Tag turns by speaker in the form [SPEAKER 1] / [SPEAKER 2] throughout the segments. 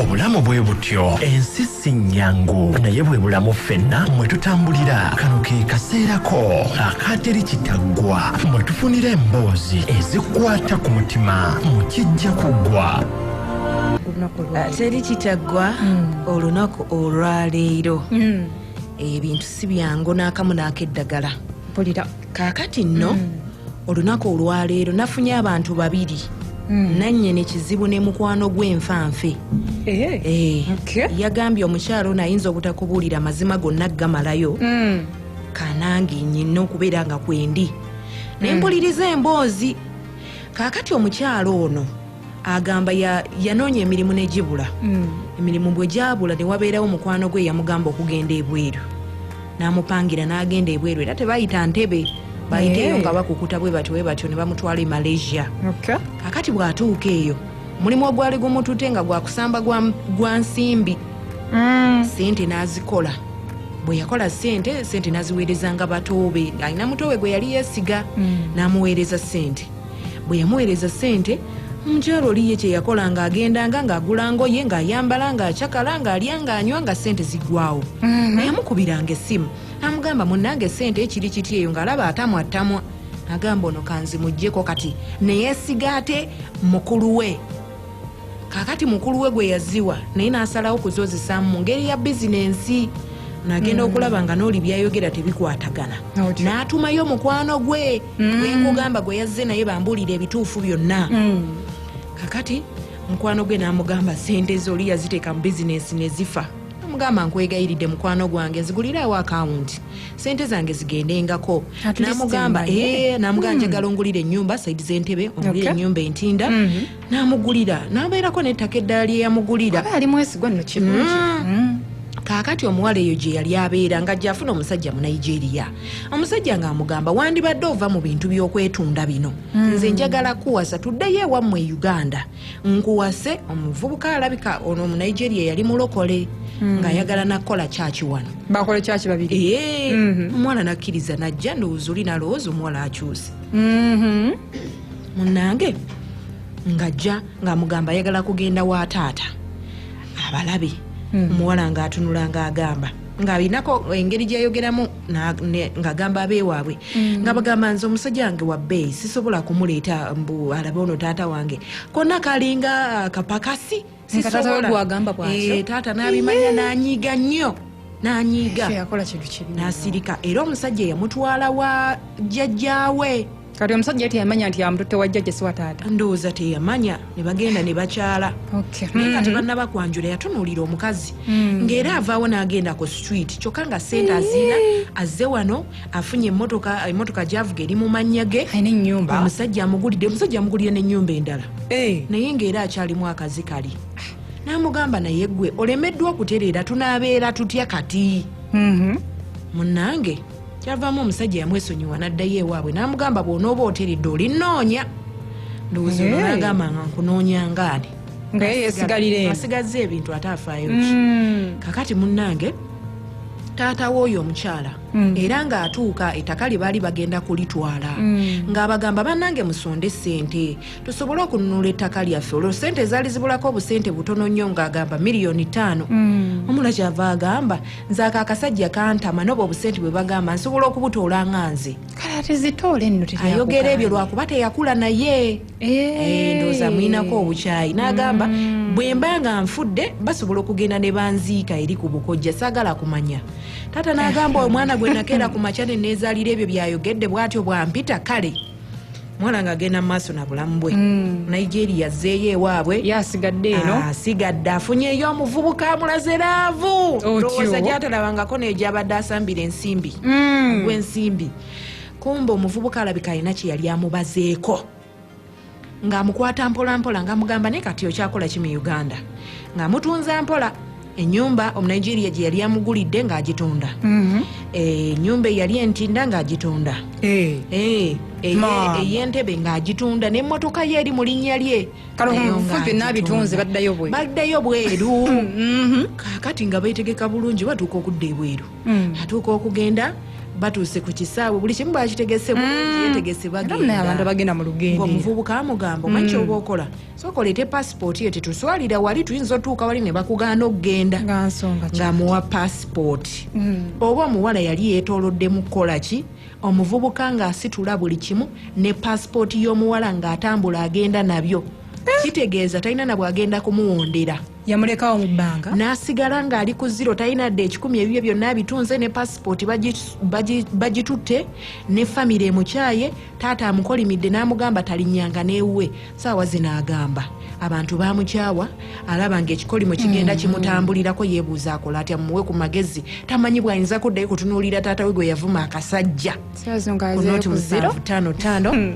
[SPEAKER 1] obulamu bwe butyo ensi si nnyangu naye bwe bulamu ffenna mwe tutambulira kano ke kaseerako akaateri kitaggwa mwe tufunira emboozi ezikwata ku mutima mu kijja kuggwa
[SPEAKER 2] ah, teri kitaggwa hmm. olunaku olwaleero hmm. ebintu si byangu n'akamu n'akeddagala kaakati nno hmm. olunaku olwaleero nafunye abantu babiri hmm. nanye nekizibu ne mukwano gwenfanfe eh, eh, yagambye omukyalo ono ayinza obutakubuulira amazima gonna gamalayo hmm. kanange nyina okubeera nga kwendi nempuliriza emboozi kakati omukyalo ono agamba ya- yanoonya emirimu ne gibula Mm. emirimu bwe gyabula ne wabeerawo mukwano gwe yamugamba okugenda ebweru n'amupangira n'agenda ebweru era tebayita ntebe bayiteeyo Eh. nga bakukuta bwe batyo bwe batyo ne bamutwala e malaysia Okay. kakati bw'atuuka eyo mulimu ogwali gumutute nga gwa kusamba gwa, gwa nsimbi Mm. sente n'azikola bwe yakola sente sente n'aziweerezanga batoobe alina mutoowe gwe yali yeesiga Mm. n'amuweereza sente bwe yamuweereza ssente omukyalo oli ye kyeyakola ng'agendanga ng'agula ngoye ng'ayambala ng'acakala ng'alya ng'anywa nga ssente ziggwawo mhm. nayamukubiranga essimu amugamba munnange ssente ekiri kiti eyo ng'alaba atamwattamwa agamba ono kanzimuggyeko kati neyesiga ate mukulu we kakati mukulu we gwe yaziwa naye n'asalawo kuzozisamu mu ngeri ya bizinensi nagenda mm. okulaba nga noli byayogera tebikwatagana n'atumayo omukwano gwe mm. gwekugamba gwe yazze naye bambuulira ebituufu byonna mm. kakati mukwano gwe n'amugamba sente zoli yaziteeka mu bizinensi ne zifa amugamba nkwegayiridde mukwano gwange ziguliraawo akawunti sente zange zigendengako namugamba eh, namugamba hmm. njagala ongulira enyumba saidi zentebe ongulire enyumba entinda hmm. namugulira nabeerako nettaka eddala lyeyamugulira hmm. kakati omuwala eyo gye yali abeera nga gyafuna omusajja mu nigeria omusajja ngaamugamba wandibadde ova mu bintu byokwetunda bino nze njagala kuwasa tuddeyo ewammwe e uganda nkuwase omuvubuka alabika ono omunigeria yali mulokole hmm. ngaayagala nakukola kyaki wano bakole kyaki babiri
[SPEAKER 3] ee mhm. omwana
[SPEAKER 2] nakkiriza najja ndowooza oli nalowooza omuwala akyuse mhm. munange ngajja ngaamugamba ayagala kugenda wa taata abalabe hmm. omuwala ngaatunula ngaagamba ngaalinako engeri gyeyogeramu ngagamba abewaabwe mm. nga bagamba nze omusajja wange wabbeeyi sisobola kumuleeta mbu alabe ono taata wange konna kalinga ah, kapakasi eh, taata nabimanya nanyiiga nnyo nanyiiga nasirika era omusajja eyamutwala wa jjajjaawe kati omusajja yati
[SPEAKER 3] yamanya nti yamututte wa jjajja siwa taata ndowooza teyamanya
[SPEAKER 2] ne bagenda ne bakyala naye hmm. kati banna bakwanjula yatunuulira omukazi hmm. ng'era avaawo n'agenda ku street kyokka nga sente aziina azze wano afunye emotoka emotoka gyavuga eri mu mannya ge nenyumba omusajja
[SPEAKER 3] amugulidde
[SPEAKER 2] omusajja amugulire n'ennyumba endala eh. naye ng'era akyalimu akazi kali n'amugamba naye gwe olemeddwa okutereera tunaabeera tutya kati mm-hmm. munnange mm -hmm. kyavaamu omusajja yamwesonyiwa n'addayo ewaabwe n'amugamba bw'onooba oteredde olinnoonya ndowooza olwo n'agamba nga nkunoonya ngaani
[SPEAKER 3] asigazza ebintu ate
[SPEAKER 2] afaayo ki mm. kakati munnange taata w'oyo omukyala mm. era ng'atuuka ettaka lye baali bagenda kulitwala mm. ng'abagamba bannange musonde ssente tusobole okununula ettaka lyaffe olwo ssente ezaali zibulako obusente butono nnyo ng'agamba miliyoni ttaano omula kyava agamba nze ako akasajja kantama noba obusente bwe bagamba nsobola okubutoola nga nze kale ate zitoole
[SPEAKER 3] nno ayogera ebyo lwakuba
[SPEAKER 2] teyakula naye eh. Eh, ndooza mulinako obukyayi n'agamba mm. bwe mba nga nfudde basobola okugenda ne banziika eri ku bukojja saagala kumanya taata n'agamba omwana gwe nakeera ku makya ne neezaalira ebyo byayogedde bw'atyo bwampita kale omwana nga agenda mumaaso na bulamu bwe mm. nigeria zeeyo ewaabwe yasigadde eno
[SPEAKER 3] asigadde ah, afunyeyo
[SPEAKER 2] omuvubuka amulaze laavu lowooza gyatalabangako nayo gyabadde asambira ensimbi mm. gwensimbi kumbe omuvubuka alabika alina kyeyali amubazeeko ng'amukwata mpolampola ng'amugamba naye kati okyakola ki mu uganda ng'amutunza mpola enyumba omunigeria gye yali amugulidde ng'agitunda mhm. eh, enyumba eyali entinda ng'agitunda eh. eh, eyentebe ng'agitunda n'emmotoka ye eri mu linnya lye baddayo bweru mhm. kakati nga beetegeka bulungi batuuka okudda ebweru mm. atuuka okugenda batuuse ku kisaawe buli kimu bakitegese mm. bulungi yetegese bagendabantu abagenda
[SPEAKER 3] mu lugendo omuvubuka amugamba
[SPEAKER 2] omanyi mm. kyoba okola soka oleete pasipooti yo tetuswalira wali tuyinza otuuka wali ne bakugaana okugenda ng'amuwa pasipooti mm. oba omuwala yali yeetoolodde mu kukola ki omuvubuka ng'asitula buli kimu ne pasipooti y'omuwala ng'atambula agenda nabyo eh. kitegeeza talina nabwagenda kumuwondera yamulekawo mu
[SPEAKER 3] bbanga n'asigala ng'ali ku
[SPEAKER 2] ziro talina dde ekikumi ebibye byonna abitunze ne pasipooti bagitutte ne famire emukyaye taata amukolimidde n'amugamba talinyanga n'ewuwe saawa zino agamba abantu bamukyawa alaba nga ekikolimo kigenda mm. kimutambulirako yebuuza akola atya muwe ku magezi tamanyi bwayinza kuddayo kutunuulira taata we gwe yavuma akasajja kunoti musanvu tano tano hmm.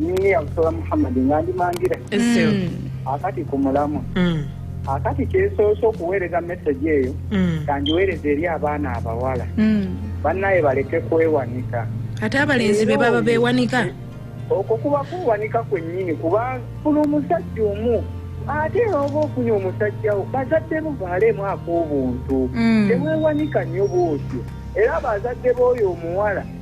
[SPEAKER 4] nyini yabusola muhammadi nga ndi mangira mm. akati ku mulamu mm. akati kyesoose okuweereza mesegi eyo mm. kangiweereza eri abaana abawala bannaye baleke kwewanika ate abalenzi
[SPEAKER 2] be baba bewanika okwo kuba
[SPEAKER 4] kuwanika kwennyini kuba funa omusajja omu ate era oba ofunye omusajja wo bazadde bo baaleemu ak'obuntu tewewanika nnyo bwotyo era abazadde b'oyo omuwala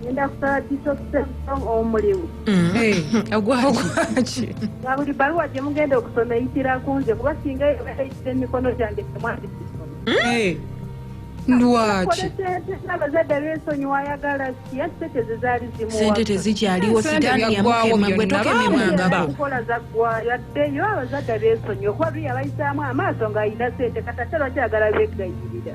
[SPEAKER 5] ngenda kusaba bisokusemusong omulimu mm. eh, ogwaki
[SPEAKER 2] nga buli baluwa gye
[SPEAKER 5] mugenda okusoma eyitira ku nze kuba singa eyobeera eyitira emikono gyange temwandikisoma mm. eh.
[SPEAKER 3] lwaki abazadde
[SPEAKER 5] besonyiwa ayagala siya sente zezaali zimusente tezikyaliwo
[SPEAKER 2] sitaani yamukema gwe tokememwangako nkola zaggwayo
[SPEAKER 5] addeyo abazadde besonyiwa kuba biyabayisaamu amaaso ng'alina sente katakyalwakyagala begayirira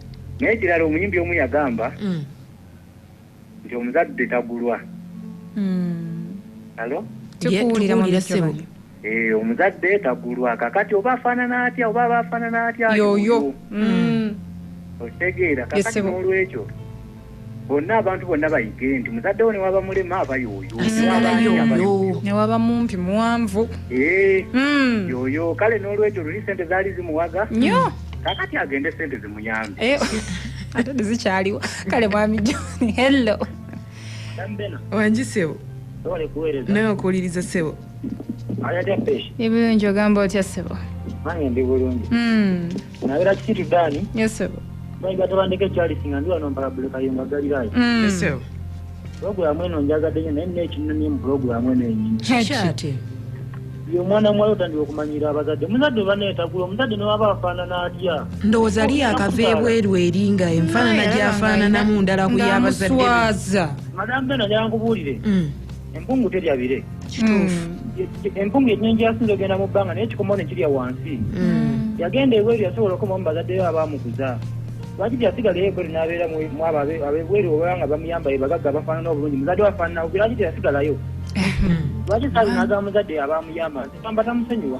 [SPEAKER 4] Naye ekirala omuyimbi omu yagamba mm. nti omuzadde tagulwa alo mm. tukuwulira mu
[SPEAKER 2] bisebo eh, omuzadde
[SPEAKER 4] tagulwa kakati oba afaanana atya oba aba afaanana atya yoyo mm.
[SPEAKER 3] okitegeera
[SPEAKER 4] kakati n'olwekyo bonna abantu bonna bayige nti muzadde wo newaba mulema aba yoyo
[SPEAKER 3] newaba mumpi muwanvu eh, hmm.
[SPEAKER 4] yoyo kale n'olwekyo luli sente zaali zimuwaga nyo kakati
[SPEAKER 3] agende
[SPEAKER 4] sente zimuyambe eh, ate
[SPEAKER 3] tezikyaliwo kale mwami john hello
[SPEAKER 2] wangi sebo nawe okuwuliriza sebo ebirungi
[SPEAKER 3] ogamba otya sebo nange ndi bulungi
[SPEAKER 4] hmm. nabera kisitu dani yesebo bayiga
[SPEAKER 3] tebandeka
[SPEAKER 4] ekyalisi nga ndi wano mpala bulekayonga galirayo mm. yesebo
[SPEAKER 2] pulogulamu
[SPEAKER 4] eno njagadde nyo naye nina ekinumye mu pulogulamu eno enyini kyati
[SPEAKER 2] omwana
[SPEAKER 4] muwala otandika okumanyira abazadde muzadde obaneetagula omuzadde newaba afaanana atya ndowooza ali yakava
[SPEAKER 2] ebweru eri nga enfaanana gyafaananamu ndala ku yabazadde madambe
[SPEAKER 4] nayankubuulire mm. empungu terya bire kituufu
[SPEAKER 2] hmm. empungu
[SPEAKER 4] enyingi yasinza ogenda mu bbanga naye kikomawo nekirya wansi hmm. yagenda ebweru yasobola okomawo mubazaddeyo abamukuza lwaki teyasigalayo ebweru nabeera mwabo abebweru oba nga bamuyamba ebagagga bafaanana obulungi muzadde wafaanana lwaki teyasigalayo hmm. lwaki saabi naga muzadde abamuyamba nti tamba tamusonyiwa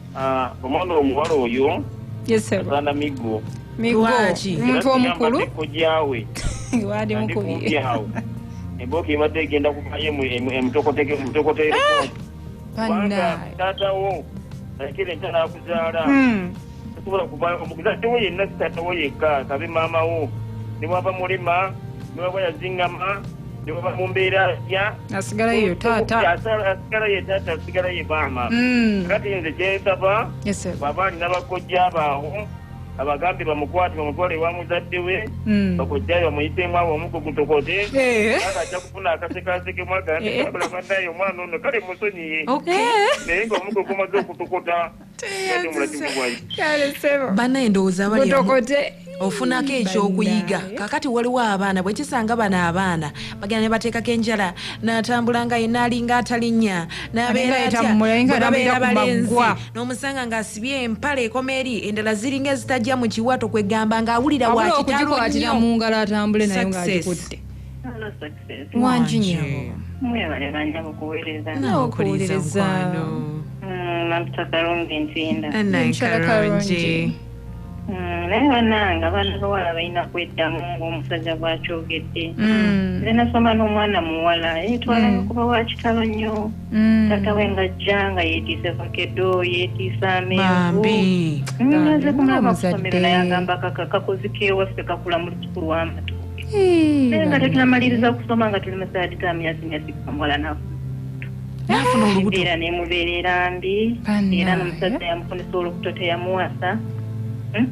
[SPEAKER 4] Ah, omwana omuwala oyo
[SPEAKER 3] asaana migo
[SPEAKER 6] migwaki
[SPEAKER 3] omuntu omukulu kojaawe
[SPEAKER 6] wali
[SPEAKER 3] mukubye awo embooka
[SPEAKER 6] ebadde egenda kubayo emutokoteke emutokoteke ah! kubanga
[SPEAKER 3] taatawo
[SPEAKER 6] nakira entana akuzaala hmm. tasobola kuvayo omukuzadde wo yenna sitaatawo yekka kabe maama wo ne bwava mulema ne bwaba yazingama ne bwaba mu mbeera ya asigala yeyo
[SPEAKER 3] taata asigala ye taata
[SPEAKER 6] asigala ye maama mm. kati nze kyensaba bwaba alina
[SPEAKER 3] bakojja
[SPEAKER 6] baawo abagambe bamukwate bamutwale ewa muzadde we hmm. bakojjayo bamuyitemu awo omugugutokote eh. ajja kufuna akasekaasekemu agambe eh. abula banaye omwana ono kale musonyiye naye nga omugugumaze okutokota
[SPEAKER 2] bana endowooza abali ofunako ekyokuyiga kakati waliwo abaana bwekisanga bano abaana bagenda nebateekako enjala natambula nga yena alinga atalinya nabeerabalenzi nomusanga nga asibye empala ekoma eri endala ziringa ezitajja mu kiwato kwegamba nga awulira wakitalo
[SPEAKER 3] nyo wangi nyabo mwebale banyabo
[SPEAKER 5] kuwereza nawe okuwuliriza mukwano
[SPEAKER 3] Mm,
[SPEAKER 5] maputa kalungi ntinda Enkyala kalungi. Mm, naye banange abaana bawala balina kweddamu ng'omusajja bwakyogedde Mm. nze nasoma n'omwana muwala yetwalayo Mm. kuba wakitalo nnyo Mm. taata we ng'ajja nga yeetiise vakedo yeetiise amenvu bambi nze kumulaba Omuzadde. kusomero naye agamba kakakakuzika ewaffe kakula mu lusuku lw'amatu naye nga tetunamaliriza kusoma nga tuli musaati ga myezi myezi kamuwala nafu nafuna
[SPEAKER 2] olubuto era nemubeerera
[SPEAKER 5] mbi era nomusajja yamufunisa olubuto teyamuwasa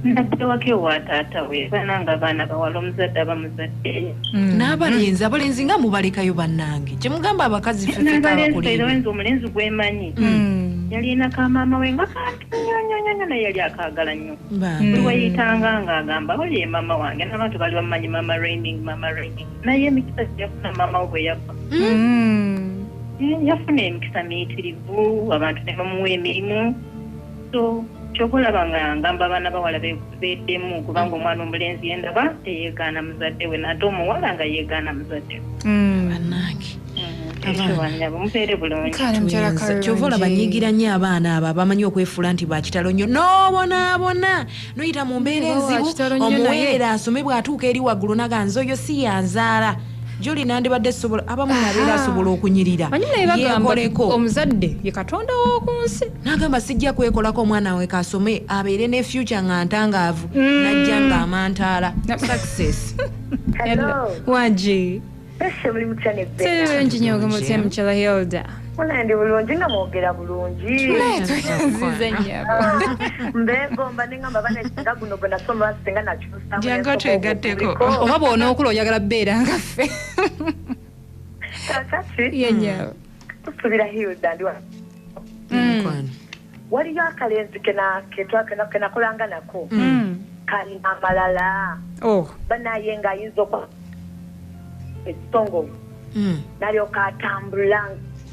[SPEAKER 5] naddewako ewa taata we baana nga baana bawala omuzadde aba muzadde mm. n'abalenzi
[SPEAKER 2] abalenzi nga mubalekayo bannange kyemugamba abakazi fefekaabakuleera
[SPEAKER 5] omulenzi gwemanyi mm. yalina ka maama we nga nyonyonyo naye yali akaagala nnyo buli weyitanga nga agamba oli ye maama wange n'abantu bali bamumanyi maama raining maama raining naye emikisa gyeyafuna maama we bwe yagwa mm. yafuna emikisa miyitirivu abantu ne bamuwa emirimu so kyoba olaba nga ngamba abaana bawala beddemu kubanga omwana omulenzi
[SPEAKER 2] yendaba teyegaana
[SPEAKER 5] muzadde we nate omuwala nga yegaana muzadde mm. banange kyova olaba
[SPEAKER 2] nyigira nyo abaana abo abamanyi okwefuula nti bakitalo nnyo nobonaabona noyita mu mbeera enzibu omuweerera asome bw'atuuka eri waggulu naganza oyo si yanzaala juli nandibadde sobola abamu nabeera asobola okunyirira yekoleko omuzadde ye
[SPEAKER 3] katonda w'oku nsi nagamba sijja
[SPEAKER 2] kwekolako omwana we kasome abeere ne future nga ntangaavu mm. najja nga amantaala success
[SPEAKER 3] wagi
[SPEAKER 7] kirungi nyo ogamutya
[SPEAKER 3] mukyala hilda ndi bulungi
[SPEAKER 7] nga mwogera bulungimbegomba nengamba bana singa guno
[SPEAKER 3] gwenasoma
[SPEAKER 7] singa nakyusa jangu otwegatteko
[SPEAKER 2] oba bwonookula
[SPEAKER 3] oyagala beera nga ffe kakati
[SPEAKER 7] yenyawo
[SPEAKER 3] tusubira
[SPEAKER 7] hilda ndi wa mukwano waliyo akalenzi kena- ketwa- kena- kenakolanga nako kalina amalala oh banaye nga ayinza okwa ekitongovu Mm. nalyoka atambula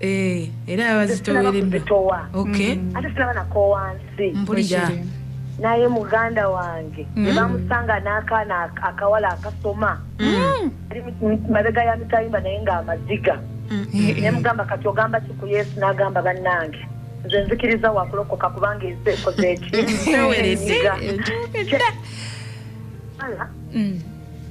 [SPEAKER 7] Eh,
[SPEAKER 2] era baba zitowereddwa okay mm. ate sinaba
[SPEAKER 7] nakoowa nsi mpulira
[SPEAKER 2] naye
[SPEAKER 7] muganda wange mm. nebamusanga n'akaana akawala akasoma mm. ali mabega ya mitayimba naye ng'amaziga naye mugamba kati ogamba ki ku yesu n'agamba bannange nze nzikiriza wakulokoka kubanga ensi ekoze eki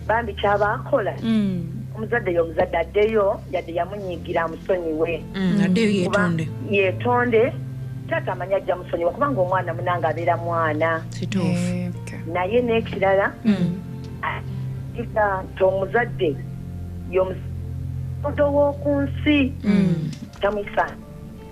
[SPEAKER 7] bambi kyabaakola mm. omuzadde yo omuzadde addeyo yadde yamunyigira amusonyiwe mm, addeyo yetonde yetonde taata amanyi ajja musonyiwa kubanga omwana munanga abeera mwana kituufu naye n'ekirala mm. atiga nti omuzadde yomuodo w'oku nsi tamwisa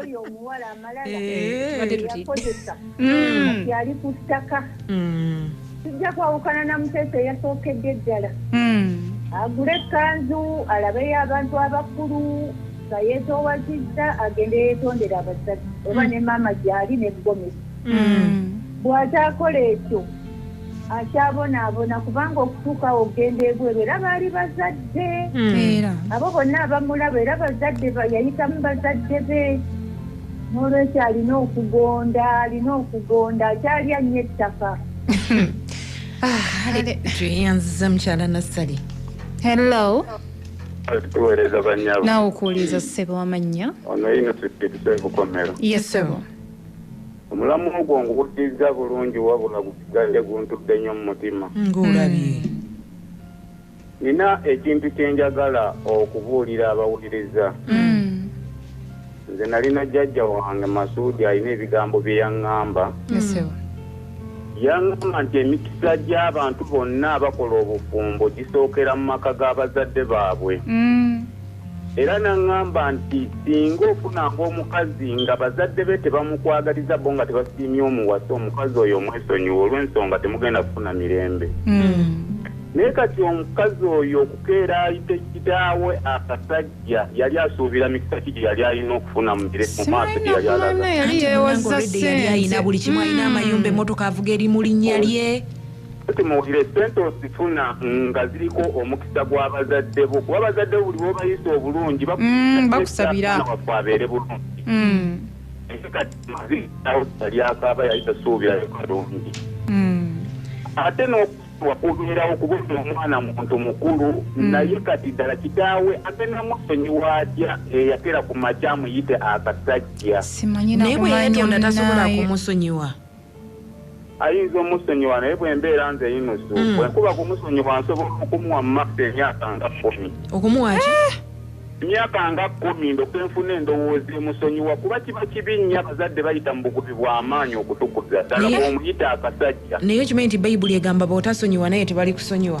[SPEAKER 2] oyo
[SPEAKER 7] omuwala amalala yakozesa mm. yali ku ttaka mm. tujja kwawukana na muteesa eyasookedde eddala mm. agule ekkanzu alabeyo abantu abakulu nga yeetowazizza agende yeetondera abasajja oba ne maama gyali ne gomesi bw'ataakola ekyo akyabonaabona kubanga okutuuka awo okugenda ebweru era baali bazadde hmm. abo bonna abamulaba era bazadde yayitamu bazadde be n'olwekyo alina okugonda alina okugonda akyali annyo ettaka
[SPEAKER 2] tweyanziza ah, mukyala nassali hello
[SPEAKER 8] tuweereza banyabo naawe okuwuliriza ssebo
[SPEAKER 3] amannya ono yino
[SPEAKER 8] tukitusekukomero yesebo yes,
[SPEAKER 3] Omulamwa
[SPEAKER 8] ogwo nguwuddizza bulungi wabula gusigadde guntudde nnyo mu mutima. Ng'olabye.
[SPEAKER 2] Nnina
[SPEAKER 8] ekintu kye njagala okubuulira abawuliriza. Nze nalina jjajja wange Masuudi alina ebigambo bye yaŋŋamba.
[SPEAKER 3] Yaŋŋamba
[SPEAKER 8] nti emikisa gy'abantu bonna abakola obufumbo gisookera mu maka ga bazadde baabwe. Era n'aŋŋamba nti, Singa ofunanga omukazi nga bazadde be tebamukwagaliza bo nga tebasiimye omuwasa, omukazi oyo mwesonyiwe olw'ensonga temugenda kufuna mirembe. Hmm. Naye kati omukazi oyo okukeera ayite kitaawe akasajja yali asuubira mikisa ki gye yali alina okufuna mu maaso gye yali alaga? Yali yeewoza ssente. Yali
[SPEAKER 2] alina buli kimu, alina hmm. amayumba, emmotoka avuga eri mu linnya lye. Kati muwulire
[SPEAKER 8] ssente osifuna nga ziriko omukisa gwa bazadde bo kuba bazadde bo buli bwobayisa obulungi mm, bakusabira
[SPEAKER 3] waffe abeere
[SPEAKER 8] bulungi mm. kati maziyakaaba yayita suubira kalungi mm. ate n'okusibwa kubeerawo kuba oyo omwana muntu mukulu naye kati ddala kitaawe ate namusonyiwa atya eyatera ku makya amuyite akasajja naye bwe
[SPEAKER 2] yetonda tasobola kumusonyiwa
[SPEAKER 8] ayinza omusonyiwa naye bwembeera nze yinusu mm. bwenkuba kumusonyiwa nsobola okumuwa mumaffe emyaka nga kumi okumuwaki
[SPEAKER 2] eh! emyaka
[SPEAKER 8] nga kumi ndoke nfuna endowooza emusonyiwa kuba kiba kibi nnyo abazadde bayita mu bugubi bw'amaanyi okutukuza ddala bwomuyita akasajja naye okimanyi nti bayibuli
[SPEAKER 2] egamba bootasonyiwa naye tebali kusonyiwa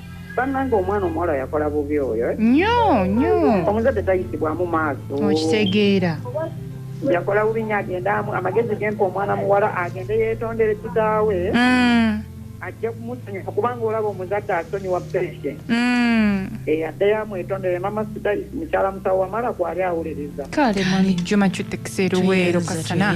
[SPEAKER 3] Banange
[SPEAKER 4] omwana omuwala yakola bubi oyo. Eh? Nyo nyo.
[SPEAKER 3] Omuzadde tayisibwamu
[SPEAKER 4] maaso. Okitegeera.
[SPEAKER 3] Yakola
[SPEAKER 4] bubi nyo agenda amu amagezi gempa omwana muwala agende yetondere kitaawe. Mm. Ajja kumusonyiwa kubanga olaba omuzadde asonyiwa peshe. Mm. Eh addayo amwetondere mama sida mukyala musawo wamala kwali
[SPEAKER 3] awuliriza.
[SPEAKER 4] Kale
[SPEAKER 3] mwami
[SPEAKER 4] Juma
[SPEAKER 3] chutekisero
[SPEAKER 4] wero
[SPEAKER 3] kasana.